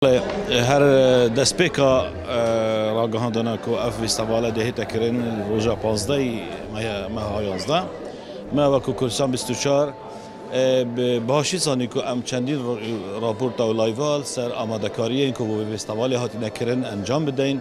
Her destpêka ragihandina ku ev festîvala dihête kirin li roja pazdehê meha yazdeh me wekî Kurdistan bîst û çar bi başî zanî ku em çendîn raporta û layva li ser amadekariyên ku bo vê festîvalê hatine kirin encam bidein.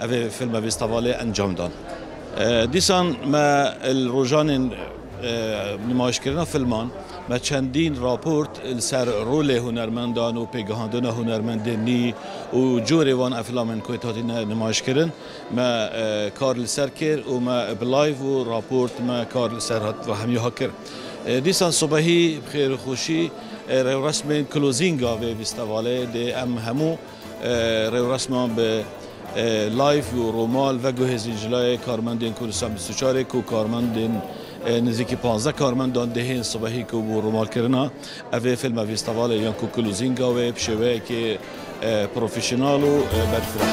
Ev filme vêstavalê encam dan. Dîsan me li rojanên nimayişkirina filman me çendîn raport li ser rolê hunermendan û pêgehandina hunermendên nî û corê wan ev filamên ku hatine nimayişkirin me kar li ser kir û me bi live û raport me kar li ser hemûyan kir. Dîsan sibehî bi xêr û xweşî rewresmên klozînga vê vêstavalê dê em hemû Rêwresma bi live û romal veguhêzîn ji layê karmendên Kurdistan bîst û çar ê ku karmendên nêzîkî panzdeh karmendan dihên sibehî ku bû romalkirina ev ê fîlme vîstevalê yan ku kul û zînga wê bi şêweyekê profesyonal û berfireh.